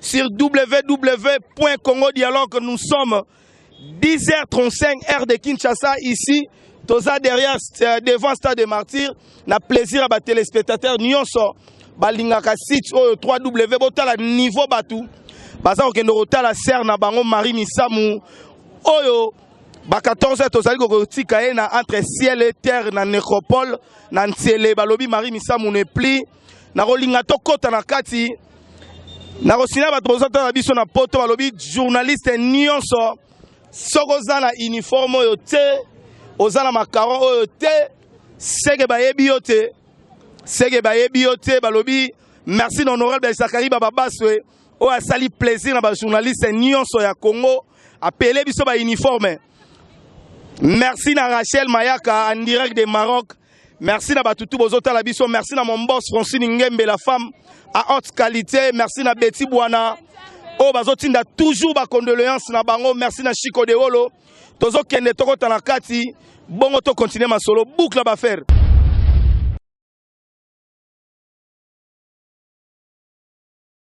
Sur www.congodialogue nous sommes 10h35 heure de Kinshasa ici toza derrière euh, devant stade de martyr na plaisir ya ba téléspectateurs nyonso balingaka site oyo 3w botala niveau bato baza kokende kotala sere na bango marie misamu oyo ba 14 tozali kokotika ye na entre ciel et terre na necropole na ntiele balobi marie misamu ne pli nakolinga tokota na kati nakosina bato bozotala na biso na poto balobi journaliste nyonso soki oza na uniforme oyo te oza na macaron oyo te seke bayebi yo te seke bayebi yo te balobi merci na honorable isakari bababaswe oyo asali plaisir na bajournaliste nyonso ya congo apele biso bauniforme merci na rachel mayaka en direct de maroc Merci na bato tout bozo tala biso. Merci na mon boss Francine Ngembe la femme à haute qualité. Merci na Betty Bwana. Oh bazo tinda toujours ba condoléances na bango. Merci na Chico de Wolo. Tozo kende toko tala kati. Bongo to continuer masolo. Boucle ba faire.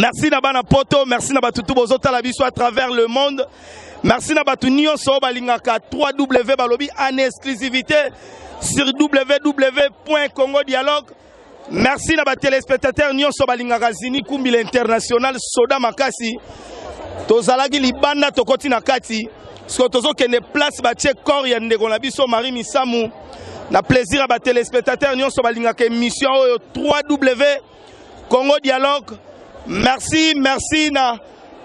merci na bana poto merci na batutu bozotala biso à travers le monde Merci na batu nioso balingaka 3W balobi en exclusivité sur www.congo dialogue. Merci na ba téléspectateurs nioso balingaka Zini Kumbi l'international soda makasi. Tozalaki libanda tokoti na kati. Siko tozokende place batie corps ya ndeko na biso Marie Misamu na plaisir ya ba téléspectateurs nioso balingaka émission oyo 3W Congo Dialogue, merci, merci na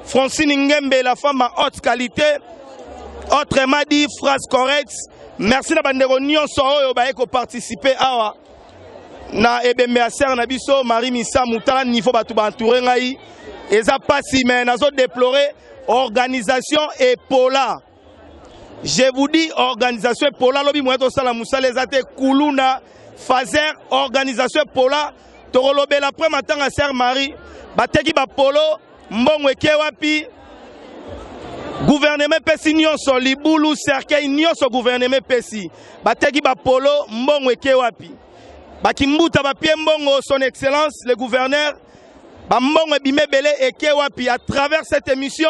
Francine Ngembe, la femme à haute qualité. Autrement dit, phrase correcte. Merci na bandeko nyonso oyo baye ko participer awa na ebembe ya sœur na biso Marie Missa Mutala niveau bato ba entouré ngai eza pasi mais nazo déplorer organisation epola Je vous dis organisation epola lobi moyen tosala musala eza te kuluna fazer organisation epola tokolobela après matanga sœur Marie bateki bapolo mbongo eke wapi guvernema epesi nyonso libulu cercueil nyonso guvernema epesi bateki bapolo mbongo eke wapi bakimbuta bapie mbongo son excellence le gouverneur bambongo ebima ebele eke wapi à travers cette émission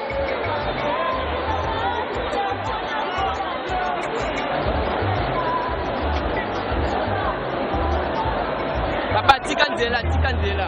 Papa, tika nzela, tika nzela.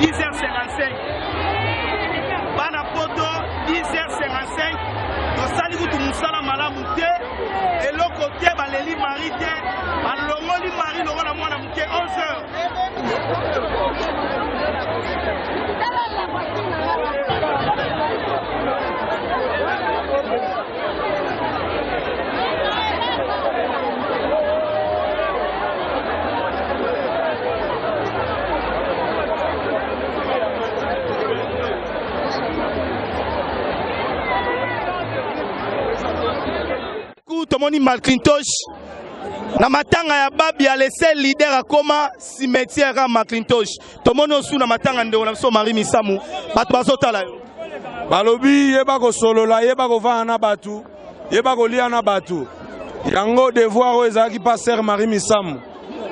10h55 bana poto 10h55 tosali kutu mosala malamu te eloko te baleli mari te balongoli mari lokola mwana moke 11h tomoni Macintosh na matanga ya babi ya lese leader akoma cimetière ya Macintosh tomoni osu na matanga ndeko na biso marie misamu bato bazotala yo balobi yeba kosolola yeba kovanda na bato yeba kolia na bato yango devoir oyo ezalaki paster marie misamu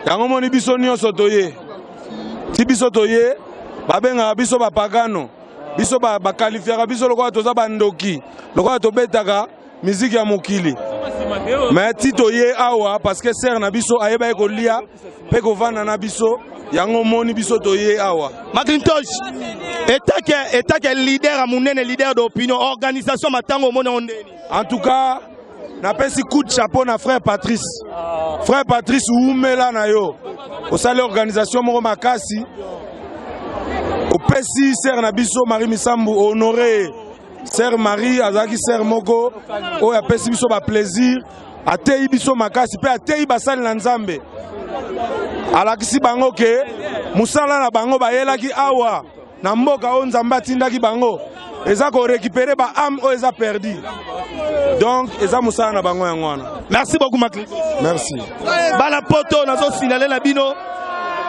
yango moni biso nyonso toye ti biso toye babengaka biso bapagano biso bakalifiaka biso lokola toza bandoki lokola tobetaka miziki ya mokili me tito ye awa parce que sere na biso ayebaki kolia mpe kovanda na biso yango omoni biso toye awa macintosh etake etake leader ya monene leader d'opinion organisation matango omoni yango ndeni en tout cas napesi coup de chapeau na frère patrice frère patrice wumela na yo osali organisation moko makasi opesi sere na biso marie misambu honore Sœur Marie azalaki sœur moko oyo apesi biso ba plaisir, ateyi biso makasi mpe ateyi basali na Nzambe. Alakisi bango ke mosala na bango bayelaki awa na mboka oyo Nzambe atindaki bango eza ko récupérer ba âme oyo eza perdu donc eza mosala na bango yango wana merci beaucoup makli merci bana poto nazo signale na bino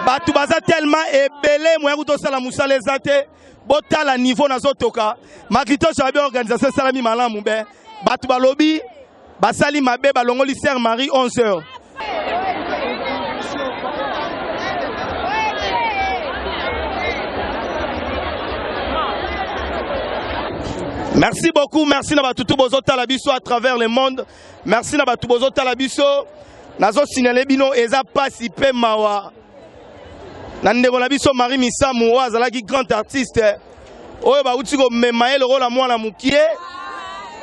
bato baza tellement ebele moya kutosala mosala eza te botala niveau nazotoka makitoso ya be organisation esalami malamu be bato balobi basali mabe balongoli sœur marie 11 heures merci beaucoup merci na bato tu bozotala biso à travers le monde merci na bato bozotala biso nazosignale bino eza mpasi mpe mawa na ndeko na biso Marie Misamu oyo azalaki grand artiste oyo bauti komema ye lokola mwana mokie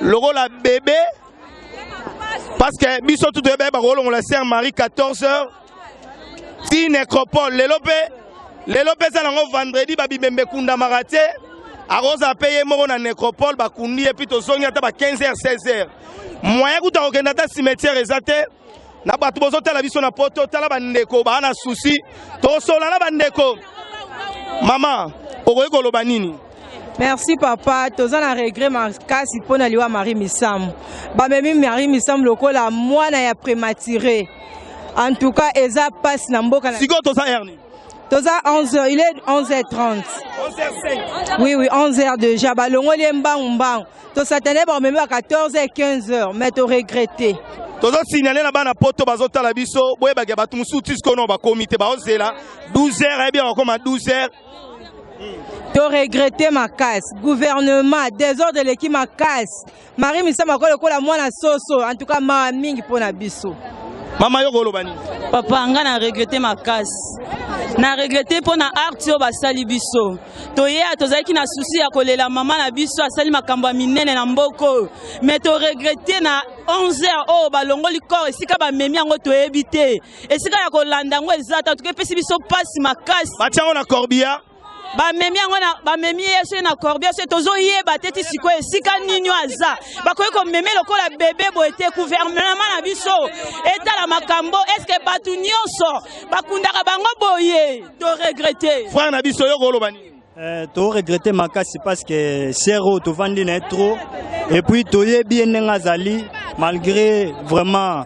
lokola bebe parce que biso tu toyebi bakolongola sœur Marie 14h ti necropole lelo mpe lelo mpe eza nango vendredi babibembe ekundamaka te akozala mpe ye moko na necropole bakundi ye mpe tozongi ata ba 15h 16h moyen kuta kokenda ata cimetière eza te na bato bozotala biso na poto tala bandeko baa na susi tosola na bandeko mama okoki koloba nini merci papa toza na regret makasi mpo na liwa marie misamu bamemi marie misamu lokola mwana ya prématuré en tout cas eza mpasi na mboka sikoyo toza herni toza 11h il est 11h30 11h5 oui oui 11h déjà balongoli ye mbangu mbangu To satane ba meme à 14 et 15 heures mais to regretter. Tozo signaler na bana poto bazo tala biso boyeba ke batu mususu tisko no ba comité ba ozela 12 heures et eh bien bakoma 12 heures. To regretter ma casse. Gouvernement désordre leki ma casse. Marie Misama ko lokola mwana soso en tout cas ma mingi pona biso. Mama yo koloba nini? Papa nga na regretter ma casse. Na regretter pona art yo basali biso. toyeya tozalaki na susi ya kolela mama na biso asali makambo ya minene na mboka oyo me toregrete na 11 heures oyo oh, balongoli corps esika bamemi yango toyebi te esika ya kolanda yango eza ta tuka epesi biso mpasi makasi batia yango na corbia bamemi yango bamemi ye soki na corbia soki tozoyeba te ti sikoyo esika nini aza bakoki komeme lokola bebe boye te guvernema na biso etala makambo eske bato nyonso bakundaka bango boye To regretter. Frère na biso yo koloba nini? Euh, to regretter makasi parce que Sero to vandi na trop et puis to ye bien nga zali malgré vraiment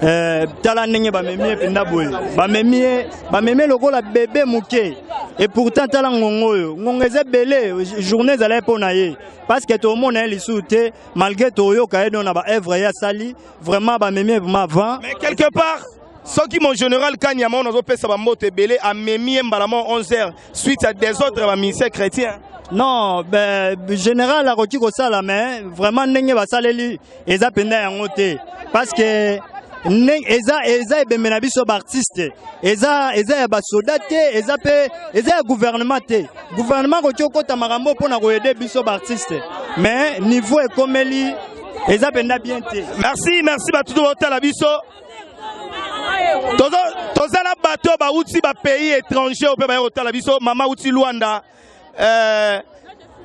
euh, tala ndenge bamemi ye mpenza boye bamemi ye bamemi ye lokola bebe moke et pourtant tala ngongo oyo ngongo eza ebele journée ezalaki mpo na ye parce que tomona ye lisusu te malgré toyoka ye don na baœuvre ye asali vraiment bamemi ye vraiment avant mais quelque part soki mon général kanyama oyo nazopesa bamboto ebele amemi ye mbala mo 11h suite ya desordre ya baministère chrétien non ben, général akoki kosala mais vraiment ndenge basaleli eza mpenza yango te parce que eza eza ebembe na biso baartiste eza eza ya basoda te eza mpe eza ya gouvernement te gouvernement akoki okota makambo mpo na koyede biso baartiste mais niveau ekomeli eza mpenza bien te merci merci bato to baotala biso tozo toza na bato oyo bauti ba pays étranger oyo mpe baye kotala biso mama uti luanda eh,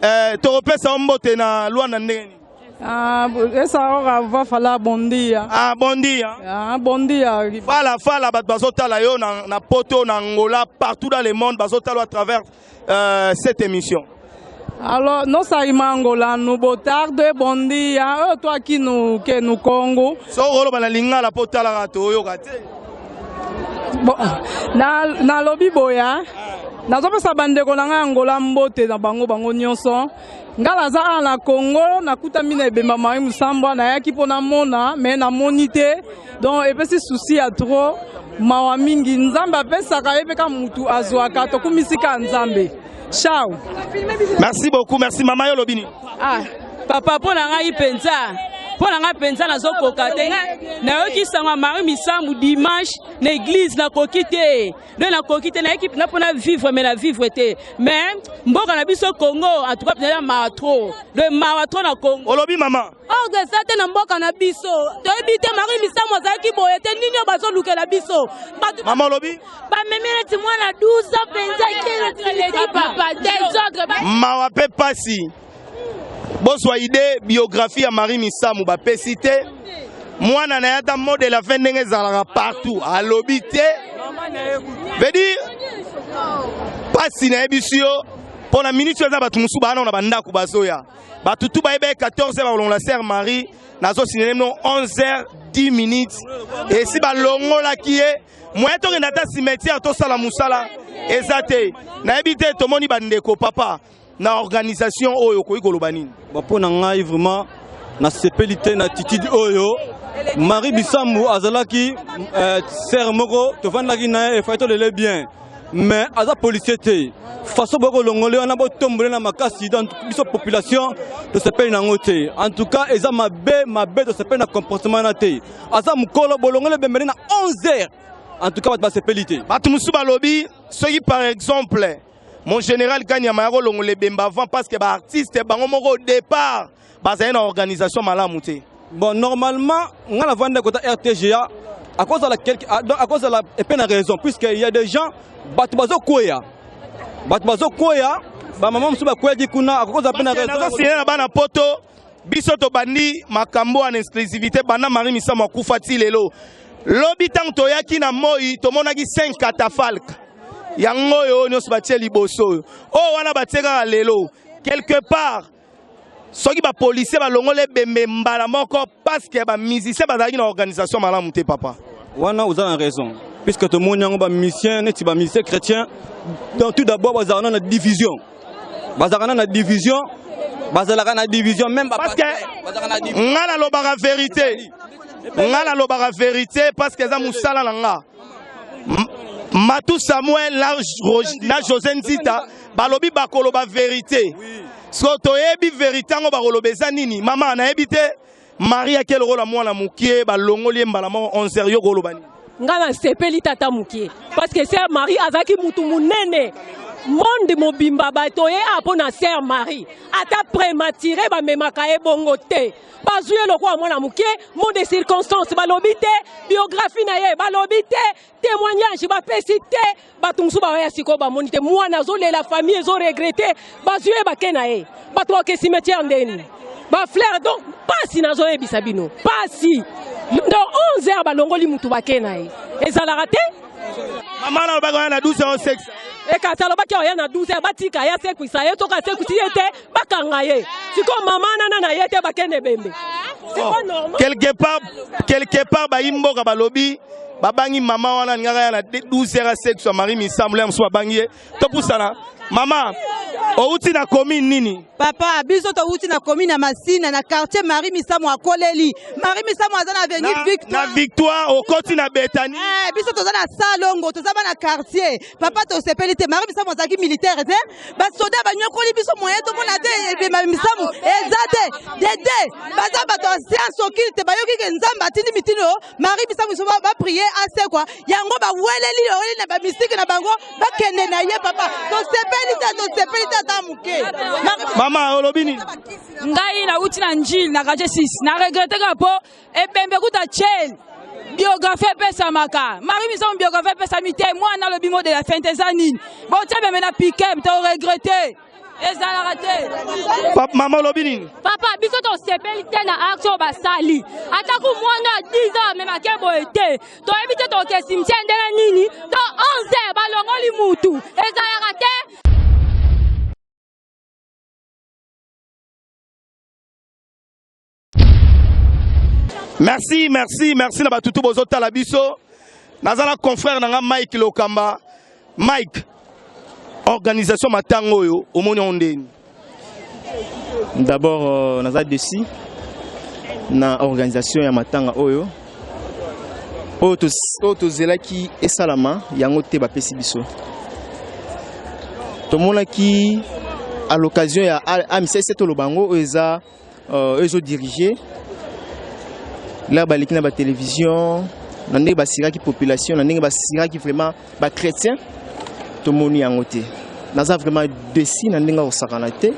eh, tokopesa yo mbote na luanda ndenge nini Ah, esa ora va fala bom dia. Ah, bom dia. Ah, bom dia. Fala, fala, bato bazotala yo na, na Poto, na Angola, partout dans le monde, bazotala à travers euh, cette émission. Alors, non ça imangola nous botarde bon dia oh, toi qui nous que nous Congo. So rolo bana lingala po talaka to yoka te. Bon, na na lobi boya. Nazopesa bandeko na ngai Angola mbote na bango bango nyonso. nga naza awa na congo nakutami na ebemba mai mosambwa nayaki mpo namona me namoni te donc epesi susi ya trop mawa mingi nzambe apesaka ye mpe ka mutu azwaka tokumisi ka nzambe chao merci beaucoup merci mama yo olobi nini ah, papa mpo na ngai mpenza mpo na ngai mpenza nazokoka te nayoki sango ya mari misambo dimanche na eglize nakoki te donc nakoki te nayeki mpenza mpo na vivre me na vivre te mais mboka na biso congo atuka mpenza ya mawa tro donc mawa tro na congo olobi mama orge oh, eza te na mboka na biso toyebi te mari misamu azalaki boye te nini oyo bazolukela biso mama olobi bamemi neti mwana 12 ans mpenza mawa mpe mpasi bozwa idee biographie ya Marie Misamu bapesi te mwana na ye ata modèle ya fin ndenge ezalaka partout alobi te veut dire pasi nayebisi yo mpo na miniti oyo eza bato mosusu baana na bandako bazoya bato tu bayebaki 14 bakolongola sere marie nazosinele mino 11 10 minutes esi balongolaki ye moye tokenda ata cimetière tosala mosala eza te nayebi te tomoni bandeko papa na organisation oyo okoki koloba nini mpo na ngai vraiment nasepeli te na attitude oyo marie bisambu azalaki euh, sere moko tofandaki na ye efai tolele bien mais aza policier te façon boye kolongole wana botombole na makasi donc biso population tosepeli na yango te en tout cas eza mabe mabe tosepeli na comportement wana te aza mokolo bolongole bembele na 11 heures en tout cas bato basepeli te bato mosusu balobi soki par exemple Mon général Kanyama yako longola ebemba avant parce que ba artistes bango moko au départ bazali na organisation malamu te. Bon normalement nga na vanda kota RTGA à cause de la quelque à cause de la epena raison puisque il y a des gens bato bazo koya bato bazo koya ba maman mosusu bakweyaki kuna à cause de la pena raison. Nazo signer na bana poto biso tobandi makambo en exclusivité banda marie misamu akufa ti lelo lobi ntango toyaki na moi tomonaki 5 catafalque yango oyo oyo nyonso batie liboso oyo oyo wana batie kaka lelo quelque part soki bapolisier balongoli ebembe mbala moko parceke bamusicien bazalaki na organisation malamu te papa wana oza na raison puisque tomoni yango bamusicien neti bamusicien chrétien donc tout d'abord bazalaka na division bazakana na division bazalaka na division même parce que nga nalobaka verité nga nalobaka verité parce que eza mosala na nga matu samuel na josé nzita balobi bakoloba verité so toyebi verité yango bakoloba eza nini mama nayebi te Maria ke lokola mwana mukie balongoli ye mbala moko 11h yo koloba nini? Nga na sepeli tata mukie parce que sœur Marie azaki mutu munene monde mobimba bato ye apo na sœur Marie ata prématuré bamemaka ye bongo te bazwi ye lokola mwana mukie mot de circonstance balobi te biographie na ye balobi te temoignage bapesi te bato mosusu bawaya sikoyo bamoni te mwana azolela famille ezoregrete bazwi ye bake na ye bato bake cimetière ndeni bafleur donc mpasi nazoyebisa bino mpasi ndo 11 heure balongoli motu bake na ye ezalaka te mama nalobaka wana na 12 heure 6 ekasi alobaki oya na 12 heure batika ye asekwisa ye soki asekwisi ye te bakanga ye sikoyo mama nana na ye te bakende bembe oh, quelque part quelque part bayi mboka balobi babangi mama wana alingaka ya na 12 heures a sexe ya marie misambo ya mosusu babangi ye topusana mama outi na commune nini papa biso towuti na commune ya masina na quartier marie misamu akoleli marie misamu aza na avenue victoire na victoire okoti na betani eh, biso toza na salongo toza bana quartier papa tosepeli te mari misamu azalaki militaire te basoda banyokoli biso moye tomona te ebima misamu eza te dede baza bato ya sianse okili te bayoki ke nzambe atindi mitino mari misamu biso baprie asekwa yango baweleli oweli na bamistike na bango bakende na ye papa tosepeli te tosepeli te ata moke mama olobi nini ngai nauti na njili na kaje 6 na regreteka mpo ebembe kuta chen biographie epesamaka marie misamu biographie epesami te mwana alobi mode ya fente eza nini botie bembe na pikep to regrete ezalaka te mama olobi nini papa biso tosepeli te na acte oyo basali atako mwana ya 10 ans amemake boye te toyebi te toke simtie ndenge nini to 11 balongoli mutu ezalaka te Merci, merci, merci na batutu bozo tala biso. Naza na confrère na nga Mike Lokamba. Mike, organisation matango oyo omoni ondeni? D'abord euh, naza desi na organisation ya matanga oyo oyo tozelaki esalama yango te bapesi biso tomonaki à l'occasion ya amcs toloba yango oyo eza euh, ezo diriger lere baleki na batelevizio na ndenge basiraki population na ndenge basiraki vraiment bachrétien tomoni yango te naza vraiment desi na ndenge ya kosakana te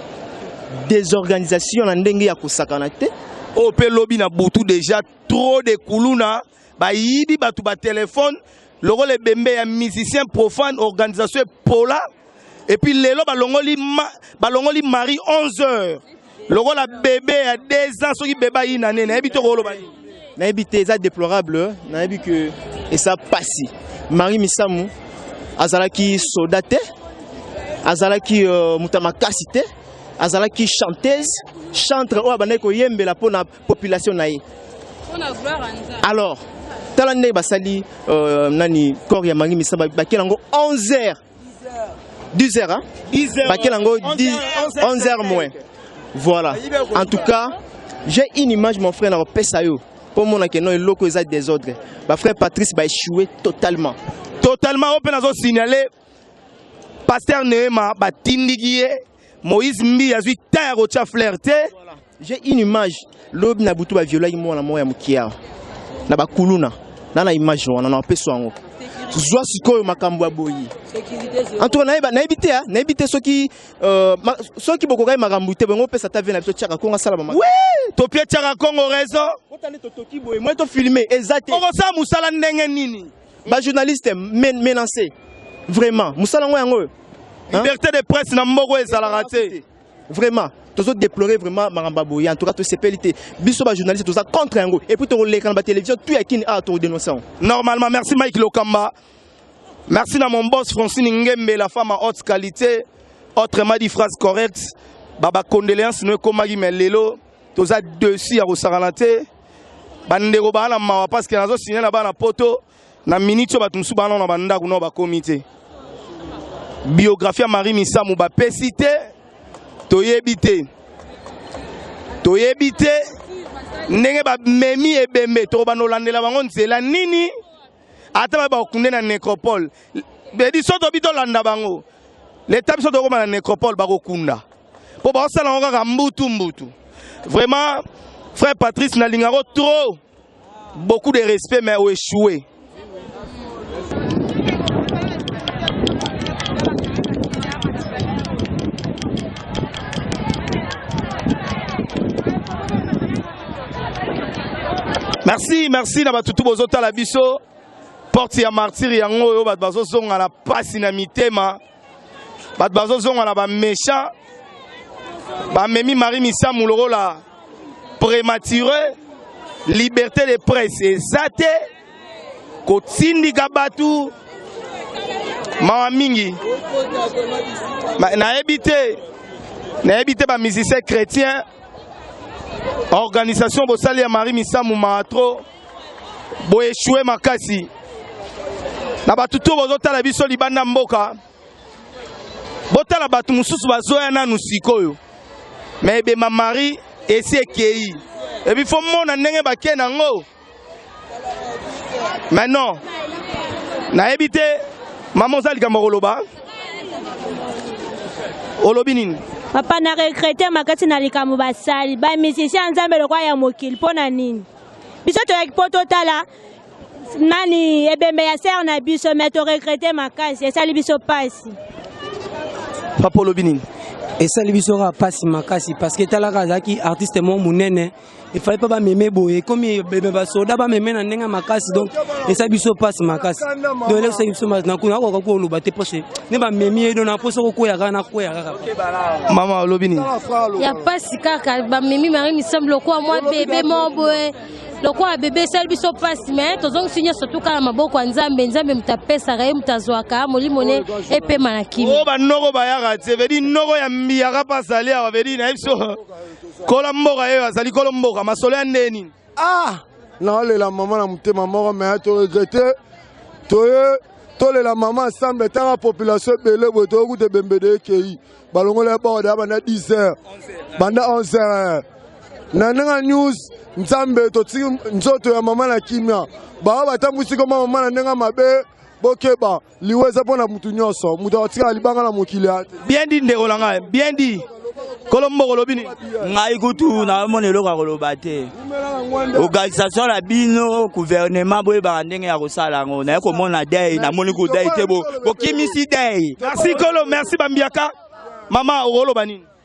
désorganisation na ndenge ya kosakana te oyo mpe lobi na butu déjà trop de kuluna bayibi bato ba telefone lokola ebembe ya musicien profane organisation epola epuis lelo balongoli, ma, balongoli marie 11 heures lokola bebe ya 2 ans soki bebe ayina nene nayebi te okoloba nini nayebi te eza déplorable nayebi ke eza pasi marie misamu azalaki soda te azalaki uh, moto ya makasi te azalaki chanteuse chantre oyo abandaki koyembela mpo na population na ye alors tala ndenge basali euh, nani corps ya mangi misa bakela yango 11 heures 10 heures hein? bakela yango 11 heures moins voilà en tout cas j'ai une image mon frère nakopesa yo mpo omona ke no eloko eza désordre bafrère patrice baéchoué totalement totalement oyo mpe nazo signale paster neema batindiki ye moïse mbi azwi ta ya kotya flair te voilà. J'ai une image lobi na butu ba violaki mwana moko ya mokie awa na bakuluna na na image wana na wapeso yango zwa sikoyo makambo ya boye antuka nayebi te ah, nayebi te soki euh, soki bokokaki makambo te bongo opesa ta vie na biso tiaka kongo asala mama topie tiaka kongo raison otani totoki boye moi tofilme eza te okosala mosala ndenge nini bajournaliste menance vraiment mosala yango yango oyo liberté de presse na mboka ezalaka te Vraiment, tozo déplorer vraiment maramba boye. En tout cas, tosepeli te. Biso ba journalistes toza contre yango. Et puis toko leka na ba télévision tout ya kin a to dénoncer. Normalement, merci Mike Lokamba. Merci na mon boss Francine Ngembe, la femme à haute qualité. Autrement dit, phrase correcte. Baba condoléances no ekomaki mais lelo toza dessus ya kosakana te. Bandeko bana mawa parce que nazo signer na bana poto. na minute oyo bato mosusu baa nao na bandako nao bakomi te biographie ya marie misamu bapesi te toyebi te toyebi te ndenge bamemi ebembe tokobanda kolandela bango nzela nini ata baye bakokunde na necropole bedi so tobi tolanda bango leta biso tokoma na necropole bakokunda mpo bakosala yango kaka mbutu mbutu vraiment frère patrice nalingako trop Beaucoup de respect mais au échoué. merci merci na bato tu bozotala biso porte ya martire yango oyo bato bazozonga na mpasi na mitema bato bazozonga na baméchant bamemi marie misamu lokola prématuré liberté de presse eza te kotindika bato mawa mingi nayebi te nayebi te bamusicien chrétien organisation bosali ya marie misamu mawa trop Bo échouer makasi. Na bato to bozo tala biso libanda mboka. Botala bato mosusu bazoya nanu sikoyo. Mais ebema Marie esi ekei. Ebi fo mona ndenge bakei nango. Mais non. Nayebi te mama oza likambo koloba. Olobi nini? papa na regrete makasi na likambo basali ba musicien ya nzambe lokola ya mokili mpo na nini biso toyaki mpo totala nani ebembe ya sere na biso me toregrete makasi esali biso mpasi papa olobi nini esali biso kaka mpasi makasi parceke etalaka azalaki artiste moko monene efali mpe bameme boye ekomi bebe basoda bameme na ndenge ya makasi donc esali biso mpasi makasi donc elekisaki biso makasi nakuna akoka koloba te mposi nde bamemi ye do na mposi okokweyaka nakweyaka mama olobi nini ya pasi kaka bamemi marie misambo lokola mwa bebe moko boye lokola bebe esali biso mpasi me tozongisi nyonso tuka na maboko ya nzambe nzambe moto apesaka ye moto azwaka molimo ne epema na kimi oyo banoko bayaka te vedi noko ya mbiyaka mpe azali awa vedi na ye biso kola mboka ye azali kolo mboka masolo ya ndeni Ah! naolela mama na motema moko me toregrete toye tolela mama ensemble ntanga population ebele boye toye kuta ebembede ekei balongoli ya bord ya banda 10 heures banda 11 heures na ndenge news nzambe totiki nzoto ya mama na kimia baoyo batambwisi koma mama na ndenge mabe bokeba liwa eza mpo na motu nyonso moto akotikala libanga na mokili ya bien dit ndeko na ngai bien dit kolo mboko olobi nini ngai kutu naomona eloko ya koloba te organisation na bino gouvernement boyebaka ndenge ya kosala yango naye komona dei namoni kudei te bokimisi dei merci kolo merci bambiaka mama okoloba nini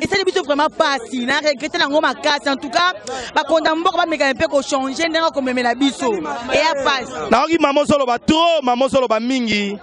esali biso vraiment pasi na regrete nango makasi en tout cas bakonda mboka bamekana mpe kochange ndenge akomemela biso eya pasi nayoki mama ozoloba trop mama ozoloba mingi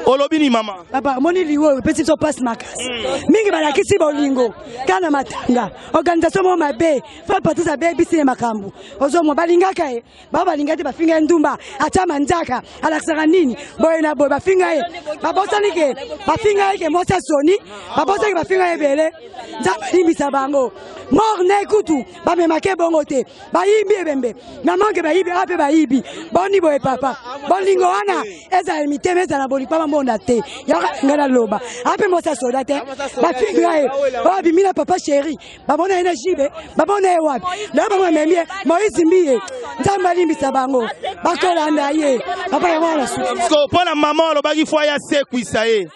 olobi ni mama papa omoni lingo oyo epesi biso mpasi makasi hmm. mingi balakisi bolingo kaka na matanga organisation moko mabe fa patris abebisi ye makambo ozomwa balingaka ye bao balinga te bafinga ye ndumba atya manzaka alakisaka nini boye na boye bafinga ye babosani ke bafinga ye ke mwasi ya soni babosani ke bafinga ye ebele nzambe alimbisa bango mor ne kutu bamemake bongo te bayibi ebembe mamanke bayibi ape bayibi boni boye papa bolingo wana ezala mitema ezala bolikpama mbonda te yaka ngai naloba ape mwasi ya soda te bafinga ye oyo abimi na papa sheri bamona ye na jibe bamona ye wapi lelo bango bamemi ye moise mbiye nzambe alimbisa bango bakolanda ye papa yango wana suki mpo na mama olobaki fo aya sekwisa ye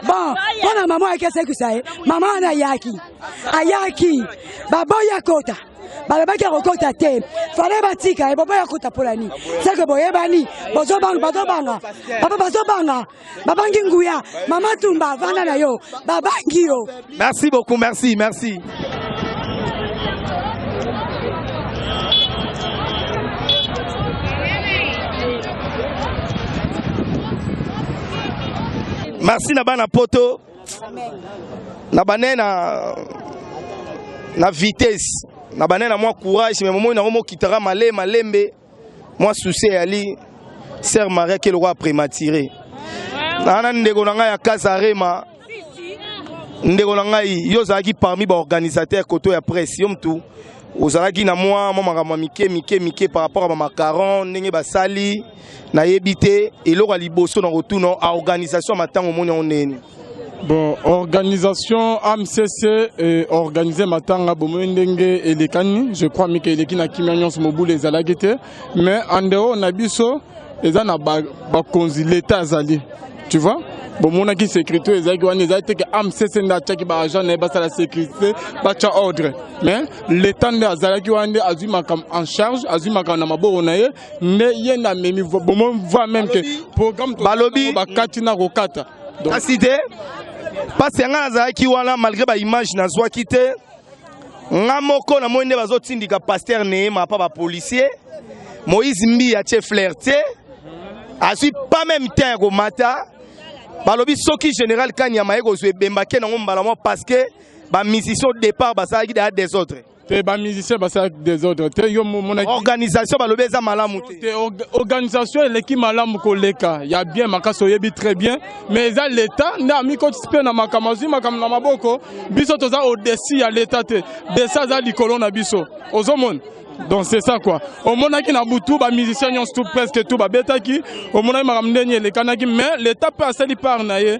bon mpo na mama ayaki asekwisa ye mama wana ayaki ayaki baboyi akota balobaki akokota te fale batika ye boboyi akota mpo na nini seke boyebani bozobanga bazobanga papa bazobanga babangi nguya mama tumba vanda na yo babangi yo merci beaucoup merci merci merci na bana poto na bane na na vitesse na bane na mwa courage me momoi nango mokitaka male malembe Moi souci ya li sœur Maria qui est le roi prématuré. Ana ndeko na ngai ya Kazarema ndeko na ngai yo ozalaki parmi baorganisateur koto ya presse yo mtu ozalaki na mwa mwa makambo mike mike mike par rapport ya bamacaron ndenge basali nayebi te eloko ya liboso na kotuna a organisation ya matango omoni yango ndeni Bon, organisation AMCC eh, organise matanga bomoi ndenge elekani je crois mike eleki na kimia nyonso mobulu ezalaki te mais en dehors na biso eza na bakonzi ba leta azali tu vois bomonaki sécurité ezalaki wana ezali te ke amcc nde atyaki baagent na ye basala sécurité batya ordre mais l'état nde azalaki wana nde azwi makambo en charge azwi makambo na maboko na ye nde ye nde amemi bomoi voi meme ke programme balobi bakati na kokata kasi te mpasi ya ngai nazalaki wana malgré baimage nazwaki te nga moko namoni nde bazotindika paster neema apa bapolicier moïse mbi atie flair te azwi pas même temps ya komata balobi soki général kanyama ye kozwa ebembake nango mbala mwa parce que bamusicien au départ basalaki deya desordre te ba musicien basala desordre te yo mona organisation balobi eza malamu te te organisation eleki malamu koleka ya bien makasi oyebi très bien mais eza leta nde amikotisi mpe na makambo azwi makambo na maboko biso toza odesi ya leta te desi aza likolo na biso ozomona donc c'est ça quoi omonaki na butu bamusicien nyonso tout presque tout babetaki omonaki makambo ndenge elekanaki mais leta mpe asali part na ye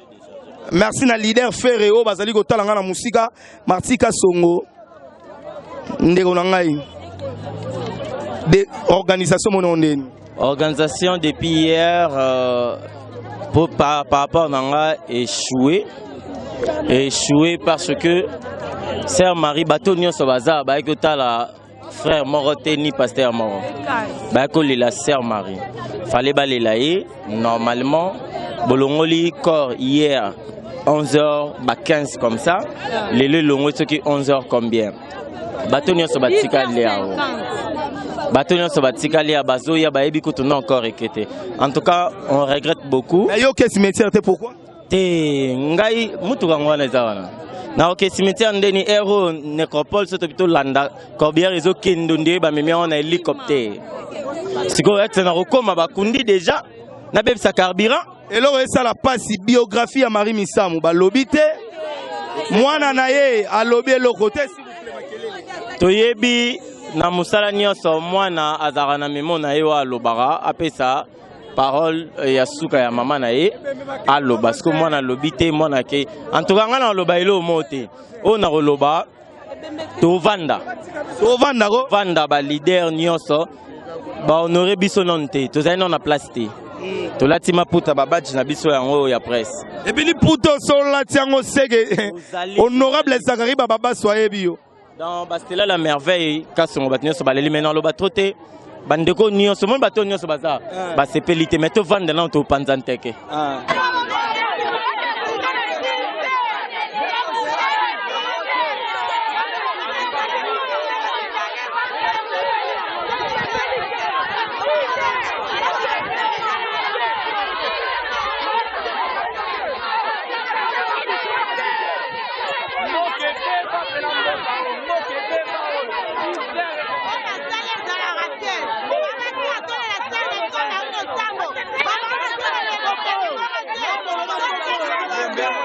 merci na leader ferre oyo bazali kotala ngai na mosika marti kasongo ndeko na ngai de organisation monao ndeni organisation depuis hier euh, pour, par, par rapport na ngai échoué échoué parce que sœur marie bato nyonso baza bayaki kotala frère moko te ni pasteur moko bayaki kolela sœur marie fale balela ye normalement bolongoli corps hier 11h ba 15 comme ça lelo elongoli soki 11h combien bato nyonso batikali yango bato nyonso batikali ya bazoya bayebi kutu na encore eke te en tout cas on regrette beaucoup nayoki cimetière te pourquoi te ngai mutuka yango wana eza wana naoke cimetière ndeni ero necropole soto bito landa corbière ezokendo nde bamemi yango na hélicoptère sikoyo ete nakokoma bakundi déjà nabebisa carburant eloko esala mpasi biographie ya marie misamu balobi te mwana na ye alobi eloko te toyebi na mosala nyonso mwana azalaka na memo na ye oyo alobaka apesa parole euh, ya suka ya mama na ye aloba siko mwana alobi te mwana ke antuka ngai nakoloba eloo moo te oyo nakoloba tovanda tovanda ko vanda balider nyonso bahonore biso nano te tozali nano na place te mm. tolati maputa babaji na biso yango oyo ya presse ebili puta osololati yango seke honorable zakari bababasi ayebi yo dans bastela la merveille kasongo bato nyonso baleli mai naloba tro te bandeko nyonso omoni bato oyo nyonso baza ah. basepeli te mai tovanda nano topanza nteke ah.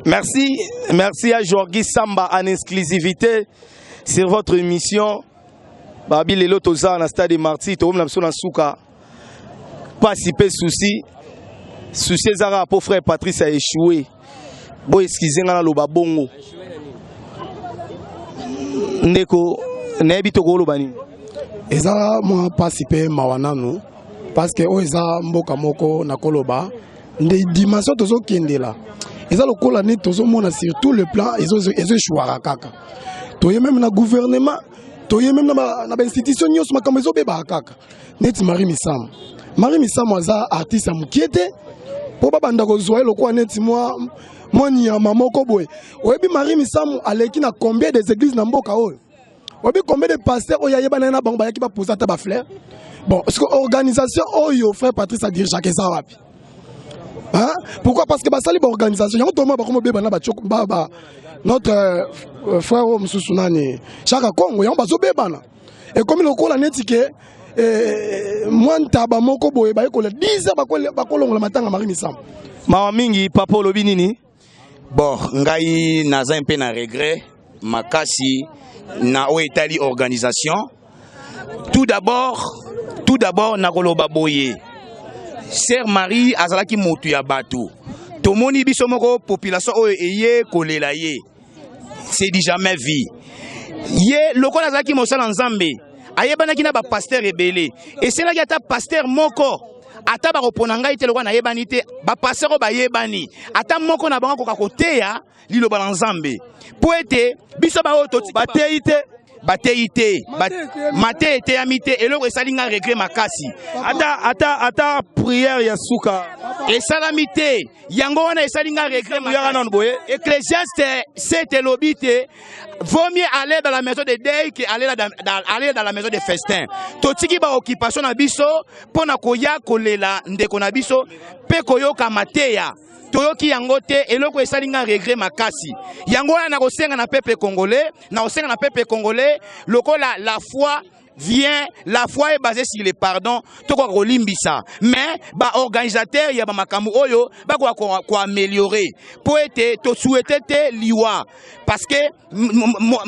Merci, merci à Jorgi Samba en exclusivité sur votre émission. Babi Lelo Toza, na stade Marty, Toom Namsona Souka. pasi pe souci souci eza kaka mpo frère patrice a échoué bo excuse nga naloba bongo ndeko nayebi tokoloba nini eza mwa mpasi mpe mawa nanu parceke oyo eza mboka moko nakoloba nde dimension tozokendela eza lokola nde tozomona sur tout le plan ezoeshuaka kaka toye meme na gouvernement toye meme na bainstitution nyonso makambo ezobebaka kaka neti Marie Misamu. Marie Misamu aza artiste ya mokie te mpo babanda kozwa ye lokola neti mwa mwa nyama moko boye. Oyebi Marie Misamu aleki na combien des églises na mboka oyo? Oyebi combien de pasteurs oyo ayebana ye na bango bayaki baposa ata bafleur? Bon, ce que organisation oyo frère Patrice adirigaka eza wapi? Hein? Pourquoi? Parce que basali ba organisation yango toma bakoma beba na ba notre euh, frère oyo mosusu nani Shaka Kongo yango bazobebana ekomi lokola neti ke eh, mwa ntaba moko boye bayekola 10 heures bakolongola matanga mari misambo mawa mingi papa olobi nini bon ngai naza mpe na regret makasi na oyo etali organisation tout d'abord tout d'abord nakoloba boye sœur marie azalaki motu ya bato tomoni biso moko population oyo eye kolela ye c'est du jamais vie ye lokola azalaki mosala nzambe ayebanaki na bapastere ebele esenaki ata pastere moko ata bakopona ngai te lokola nayebani te bapasteur oyo bayebani ata moko na bango akoka koteya liloba na nzambe mpo ete biso baoyo bateyi te bateyi te mate eteyami te eloko esali nga regret makasi ata ata ata prière ya suka esalami te yango wana esali nga regret yaka nanu boye ecclesiaste sete elobi te vaut mieux aller dans la maison de deuil que aller dans, dans, aller dans la maison de festin totiki baoccupation na biso mpo na koya kolela ndeko na biso mpe koyoka mateya toyoki yango te eloko esali nga regret makasi yango wana nakosenga na peuple congolais nakosenga na peuple congolais lokola la foi vient la foi est basée sur le pardon tokoka kolimbisa mais baorganisateur ya bamakambo oyo bakoka koameliore mpo ete tosuete te liwa parce que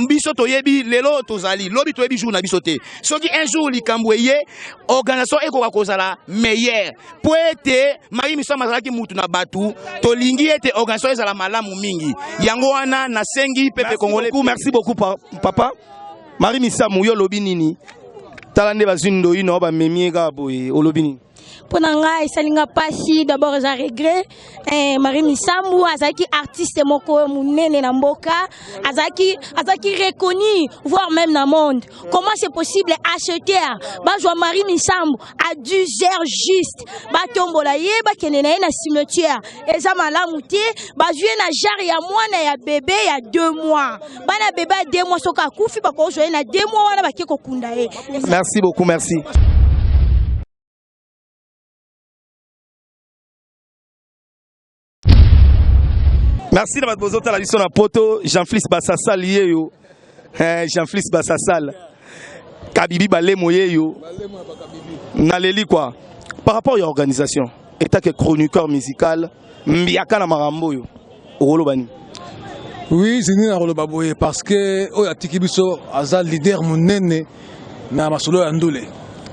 biso toyebi lelo tozali lobi toyebi jour na biso te soki un jour likambo eye organisation ekoka kozala meilleur mpo ete mayi misama azalaki mutu na bato tolingi ete organisation ezala malamu mingi yango wana nasengi pepe congolais merci beaucoup papa marie misamu yo olobi nini tala nde bazwi ndoyi na yo bamemi ye kaka boye olobi nini mpo na ngai esali nga mpasi d'abord eza regret eh, marie misambu azalaki artiste moko monene na mboka azalaki azalaki reconnu voire même na monde comment c'est possible acheter bazwa marie misambu à 10 heures juste batombola ye bakende na ye na cimetière eza malamu te bazwi ye na jare ya mwana ya bebe ya 2 mois bana bebe ya deux mois soki akufi bakozwa ye na deux mois wana bake kokunda ye merci beaucoup merci merci na bato bozotala biso na poto jean flis basasal ye yo eh, jean flis basasal kabibi balemo ye yo naleli kwa par rapport ya organisation etake chroniqueur musical Mbiaka na makambo oyo okoloba nini? Oui, zini na koloba boye parce que oyo atiki biso aza leader munene na masolo ya ndule.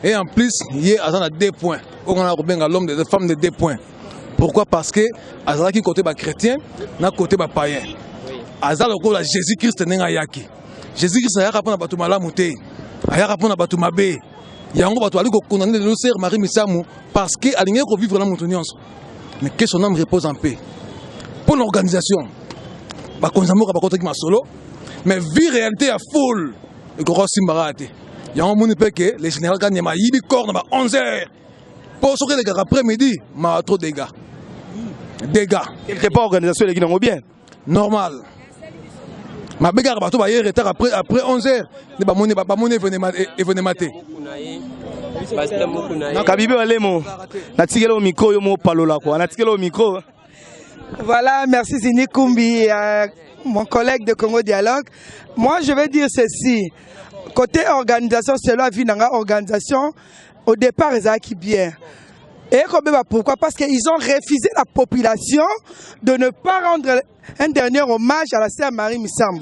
Et en plus, ye aza na deux points. Oyo na kobenga l'homme des femmes de deux points. Pourquoi? Parce que azalaki côté ba chrétien na côté ba païen. Aza lokola Jésus-Christ ndenge ayaki. Jésus-Christ ayaka pona bato malamu te. Ayaka pona bato mabe. yango bato bali kokundana lelo sere marie misamu parce que alingaki kovivre na moto nyonso mais que son âme repose en paix mpo na organisation bakonzi ya mboka bakotaki masolo mais vie réalité ya foule ekoki osimbaka te yango omoni mpe ke le général kanyama ayibi corps na ba 11 heures mpo soki elekaka après midi mawa trop dégâts dégâts quelque part organisation eleki nango bien normal mabe kaka bato baye retard après, après 11 heures nde bamoni bamoni evenema te kabibe balemo natikeli o micro yo mopalola kua natikeli o micro Voilà, merci Zini Kumbi, euh, mon collègue de Congo Dialogue. Moi, je vais dire ceci. Côté organisation, c'est la vie dans l'organisation. Au départ ezalaki bien et ekobeba pourquoi parce que ils ont refusé la population de ne pas rendre un dernier hommage à la sœur Marie Misamu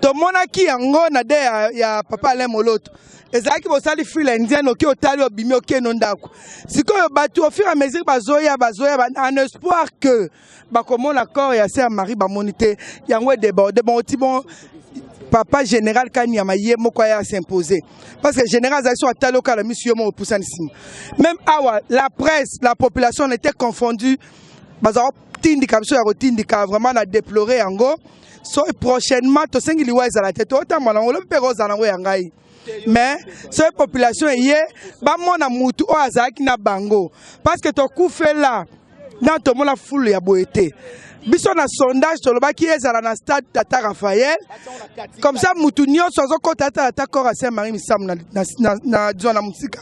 tomonaki yango na de ya, ya papa Alain Moloto ezalaki bosali file indienne oki otali obimi okeno ndako sikoyo bato au fur et à mesure bazoya bazoya ba- en espoir que bakomona corps ya sœur Marie bamoni te yango déborde bon ti bon papa général Kanyama ye moko ya s'imposer parce que général azali so atali okala misu yo moko pusani sima même awa la presse la population on était confondue bazala tindika biso ya kotindika vraiment na déplorer yango so prochainement tosengi liwa ezala te totambola yango lobi mpe ekozala yango ya ngai mais soki population eye bamona mutu oyo azalaki na bango parce que tokufela na tomona fulu ya boye te biso na sondage tolobaki ezala na stade tata raphael comme ça mutu nyonso azokota atala ata corps ya saint marie misamu na, na, na, na, na, na mosika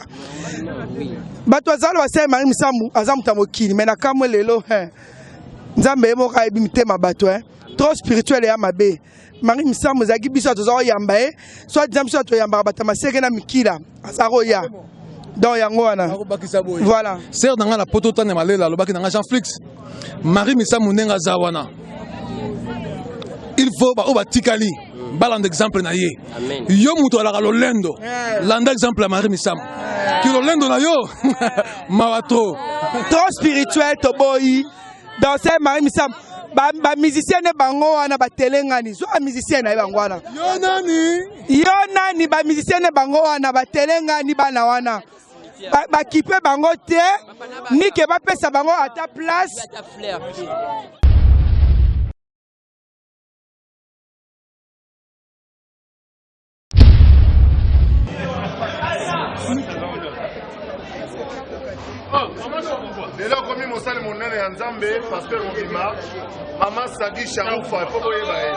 bato azala ba saint marie misamu aza moto ya mokili mai na kamwe lelo nzambe ye moko ayebi mitema bato eh. trop spirituel eya mabe Marie Misamu ezalaki biso toza koyamba ye soit disant biso toyambaka bato ya maseke na mikila aza koya donc yango wana voilà sere na ngai na poto tane malela alobaki na ngai jean flix marie misamu ndenge aza wana il faut baoyo batikali balanda exemple na ye yo moto alaka lolendo eh. landa exemple ya marie misamu eh. ki lolendo na yo mawa trop trop spirituel toboyi danser marie misamu bamusicien nde bango wana batelengani zwa bamusicien na ye bango wana yo nani yo nani bamusicien nde bango wana batelengani bana wana bakipe ba bango te nike bapesa bango ata place lelo akomi mosali monene ya nzambe paster mobima mama sadi sharufa mpo boyeba ye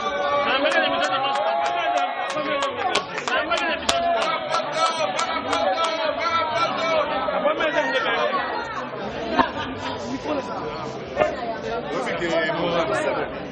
Thank you.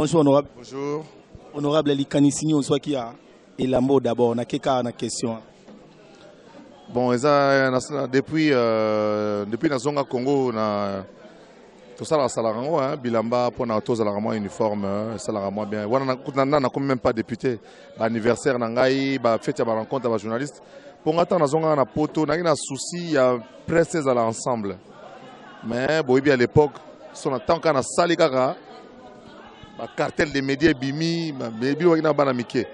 Bonjour honorable. Bonjour. Honorable likanisi nini ozwaki ya elambo d'abord na keka na question. Bon eza na, depuis euh, depuis nazonga Congo na tosalaka salaka yango hein, bilamba mpo na tozalaka mwa uniforme hein, esalaka mwa bien wana na nakomi même pas député baanniversaire na ngai bafeti ya barencontre ya bajournaliste mpo nga ntango nazongaka na poto nayaki na souci ya presse ezala ensemble mais boyebi à l'époque so na ntango kaka nasali kaka bacartel de média ebimi ebiwaki na bana mike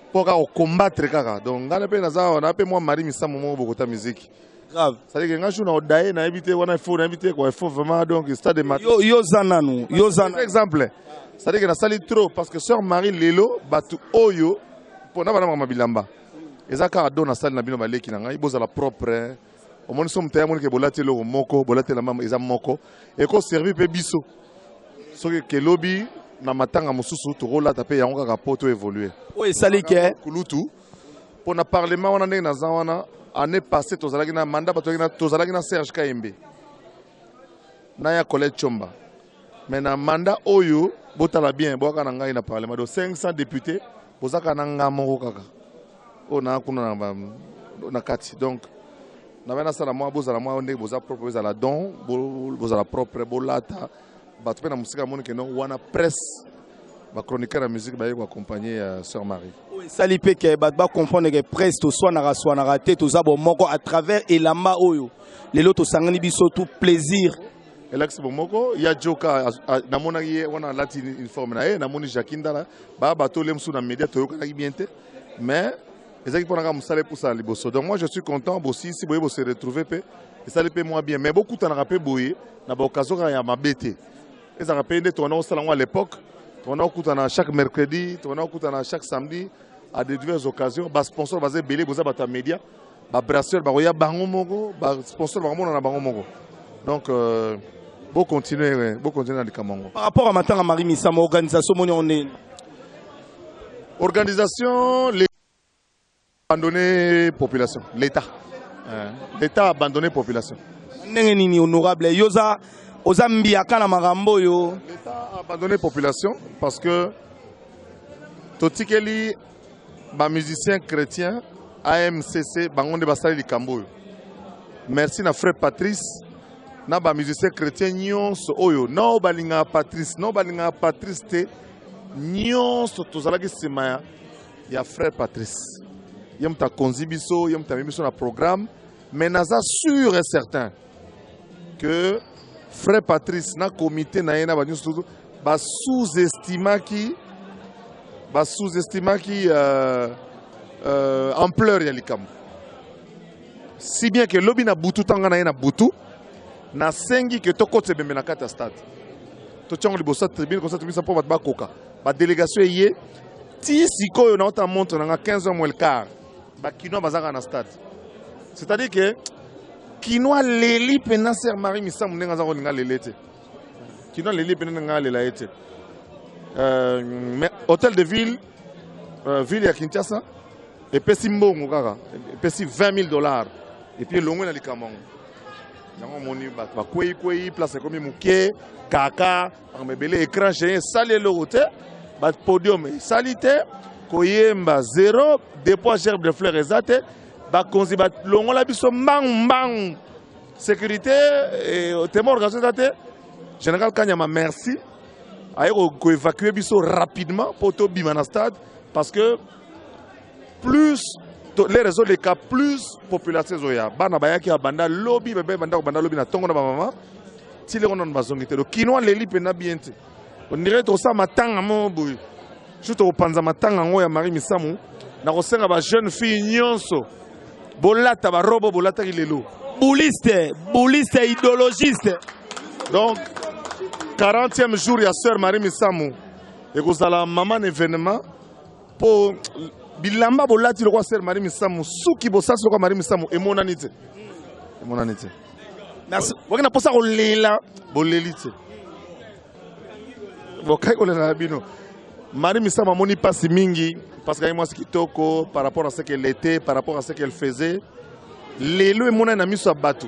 mpo kaka kokombattre kaka donc ngai mpe naza awa na mpe mwa mari misambo moko bokota miziki grave c'est que ngai jour na odaye nayebi te wana ifo nayebi te quoi ifo vraiment donc stade de mat yo yo za nanu yo za par exemple c'est que nasali trop parce que sœur marie lelo bato oyo mpo na bana mama bilamba eza kaka do nasali na bino baleki na ngai bozala propre omoni so moto yamonike bolati eloko moko bolati elamba eza moko ekoservi mpe biso soki kelobi na matanga mosusu tokolata mpe yango kaka mpo to évolue oyo esali ke kulutu mpo na parlement wana ndenge naza wana année passée tozalaki na mandat tozalaki na serge kayembe na ya collège chomba Mais na mandat oyo botala bien boyaka na ngai na parlement donc 500 députés bozaka na nga moko kaka oyo naa kuna na kati donc nabai nasala mwa bozala mwa ndenge boza propre ezala don bozala propre bolata bato mpe na mosika amoni ke non wana presse bachroniqueur ya musique baye koaccompagne ya sœur marie oyo esali mpe ke bato bacomprendre ke presse toswanaka swanaka te toza bomoko à travers elamba oyo lelo tosangani biso tout plaisir elakisi bomoko ya joka namonaki ye wana alati uniforme na ye namoni jacqui ndala baa bato ole mosusu na media toyokanaki bien te mais ezalaki mpo naka mosala epusana liboso donc moi je suis content bosilisi boye bose retrouve mpe esali mpe mwa bien mais bokutanaka mpe boye na baokasion kaka ya mabe te ezalaka mpe nde tokana kosala yango à l'époque tokana kokutana chaque mercredi tokana kokutana chaque samedi à de diverses occasions basponsor baza ebele boza bato ya media ba brasseurs bakoya bango moko ba sponsors bakomona na bango moko donc euh, bo continuer bo continuer na likambo yango par rapport à matanga marie misama organisation moni yango ndenge organisation les abandonné population l'état euh, l'état abandonné population ndenge nini honorable yo oza oza mbiaka na makambo oyo l'état abandonné population parce que totikeli ba musiciens chrétiens AMCC bango nde basali likambo oyo. Merci na frère Patrice na ba musiciens chrétiens nyonso oyo nao balingaka Patrice nao balingaka Patrice te nyonso tozalaki nsima ya, ya frère Patrice ye moto akonzi biso ye moto amemi biso na programme mais naza sûr et certain que frère Patrice na comité na ye na ba news tout ba sous-estimaki ba sous-estimaki euh, euh, ampleur ya likambo si bien que lobi na butu tanga na ye na butu nasengi ke tokotisa ebembe na kati ya stade totya yango liboso ya tribune kosa tobisa mpo bato bakoka badélégation eye ti sikoyo naota montre na nga 15 heures moins le quart ba kinois bazaka na stade c'est à dire que kinois leli pena sœur marie misamu ndenge aza kolinga lele te kinois leli pena ndenge alela ye te euh, mais hôtel de ville euh, ville ya kinshasa epesi mbongo kaka epesi 20 000 dollars epuis elongwe na likambo yango yango omoni bato bakweikwei place ekomi moke kaka makambo ebele écran géant esali eloko te bapodium esali te koyemba zero depoi gerbe de fleur eza te bakonzi balongola biso mbangu mbangu sécurité eh, temo organisation eza te général kanyama merci aye koevacue biso rapidement mpo tobima na stade parce que plus les réseaux les cas plus population ezoya bana bayaki abanda lobi bebe banda kobanda lobi na tongo na bamama ti leko nano bazongi te lokino aleli mpenza bien te ondire tokosala matanga moko boye su tokopanza matanga yango ya marie misamu nakosenga bajeune fille nyonso bolata barobo bolataki lelo bouliste bouliste idéologiste donc 40e jour ya sœur marie misamu ekozala maman événement po bilamba bolati lokola sere mari misamu suki bosasi lokola mari misamu emonani te emonani te boki na mposa kolela boleli te bokai kolela na bino mari misamu amoni mpasi mingi parce kaye mwasi kitoko par rapport à ce qu'elle était par rapport à ce qu'elle faisait lelo emonani na miso ya bato